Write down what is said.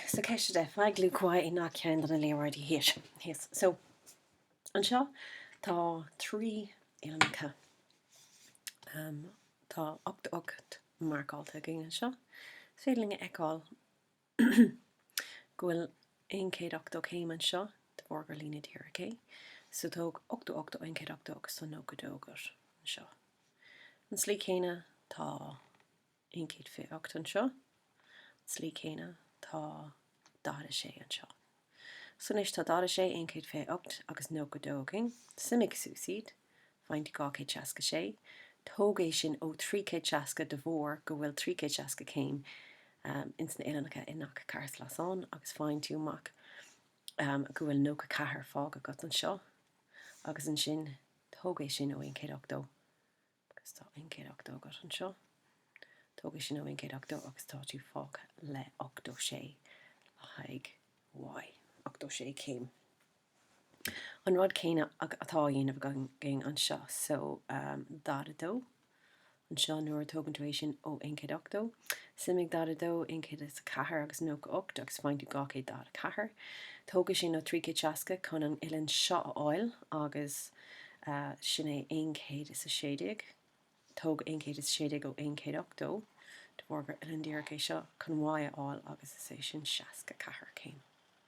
So ceist a deich, faigh luach y i ngach ceann de na léaráidí thíos. So anseo tá trí uillinneacha. Tá ochtó ocht marcáilte againn anseo. Is féidir linn a fheiceáil go bhfuil 180 céim anseo de bharr gur líne díreach é. So tóg 88 ó 180 agus tá 92 agat anseo. An tslí céanna tá aon chéad fiche ocht anseo. Slí céanna tá 46 anseo. So anois tá 46, aon chéad fiche ocht agus nócha dó againn. Suimigh suas iad. Faigheann tú dhá chéad seasca sé. Tóg é sin ó trí chéad seasca de bharr go bhfuil trí chéad seasca céim ins na huillinneacha i ngach ceathairshleasán agus faigheann tú amach go bhfuil nócha ceathair fágtha agat anseo agus ansin tóg é sin ó aon chéad ochtó Agus tá aon chéad ochtó agat anseo. Tóg é sin ó aon chéad ochtó agus tá tú fágtha le ochtó sé le haghaidh y, ochtó sé céim. An rud céanna atá á dhéanamh againn anseo. So, daichead a dó anseo nuair a tógann tú é sin ó aon chéad ochtó, suimigh daichead a dó, aon chéad is a ceathair agus nócha ocht agus faigheann tú dhá chéad daichead a ceathair. Tóg é sin ó trí chéad seasca chun an uillinn seo a fháil agus. sin é aon chéad is a sé déag, tóg aon chéad is a sé déag ó aon chéad ochtó, de bharr gur uillinn díreach é seo chun y a fháil agus is é sin seasca ceathair céim.